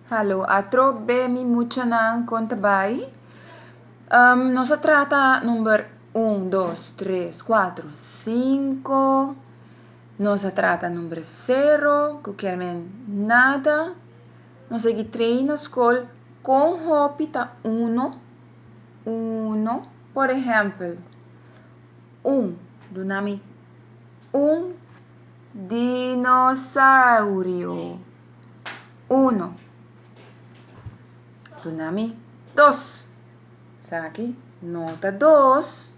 Hallo, a trop be mi muchanan kon ta bai. Nos a trata number un, dos, tres, kuatro, sinku, nos a trata number sero ku kier men nada, nos segui trei na skol kon hopi ta uno, uno, por ehèmpel, un, duna mi un. Dinosaurio. Uno. Duna mi. Dos. Esaki no ta dos.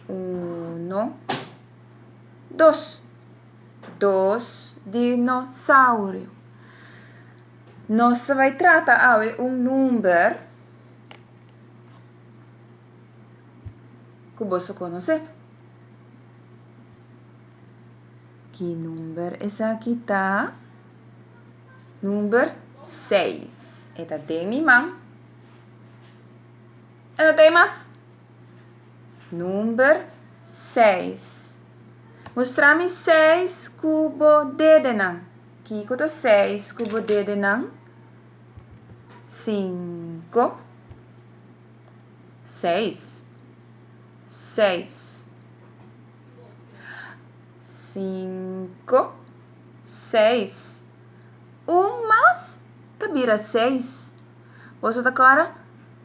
Uno. Dos. Dos dinosaurio. Nos ta bai trata awe un number. ku boso konosé. Ki number esaki ta? Number seis. E ta den mi man. E no ta ei mas. Number seis. Mustra mi seis ku bo dedenan. Kiko ta seis ku bo dedenan? Sinku. Seis. Seis. Cinco. Seis. Un mas ta bira seis. Bo so ta kòrda?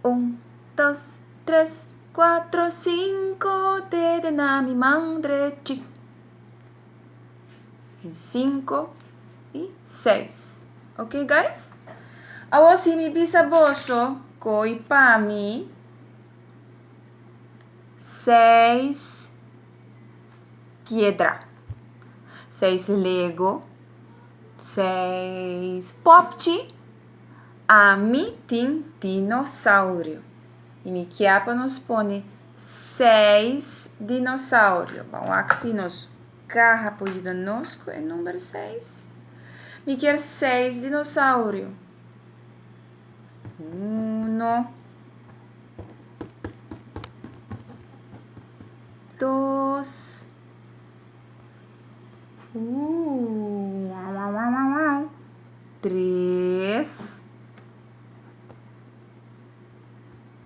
Un, dos, tres, kuatro, sinku, tete na mi mandre chi. en cinco y seis ok guys awor si mi bisa boso koi pa mi seis piedra seis lego seis popchi ami tin dinosaurio y mi kia pa nos pone Seis dinosaurio. Bo a wak si nos kaha por yuda nos ku e number seis. Mi kier seis dinosaurio. Uno, dos, uuuw wawawawaw, tres.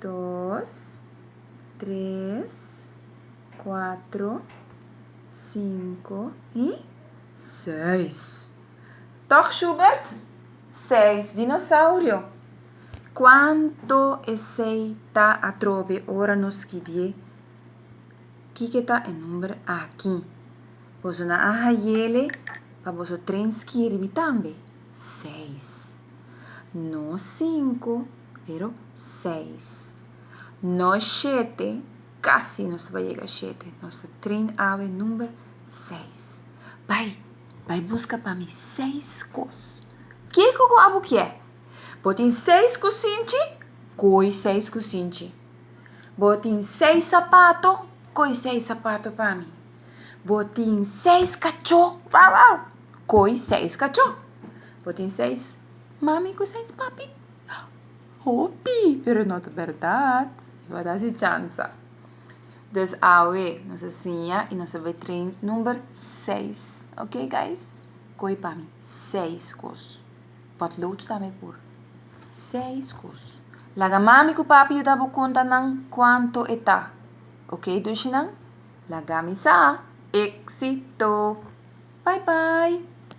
dos, tres, cuatro, cinco y seis. Toch Schubert? Seis dinosaurio. Cuanto esey ta atrobe ora nos skibié? Kiko ta e number aki? Boso nan a hayele pa boso tren skirbi tambe. seis. No sinku, pero seis. No shete, kasi nos ta bai yega shete. Nos ta train awe number seis. Bai, bai buska pa mi seis kos. Kiko ku abu ke? Bo tin seis kusinchi? Koi seis kusinchi. Bo tin seis sapato? Koi seis sapato pa mi. Bo tin seis kachó. Wou wou. Koi seis kachó. Bo tin seis mami ku seis papi. Hopi, pero no ta bèrdat. I bo a dal si chansa. Dus awe nos a siña i nos a bai train number seis. Ok guys? Koi pa mi seis kos. Bòt lo tu tambe por. Seis kos. Laga mami ku papi yuda bo konta nan kuantu e ta. Ok, dushinan? Laga mi sa, Éxito! Bye bye!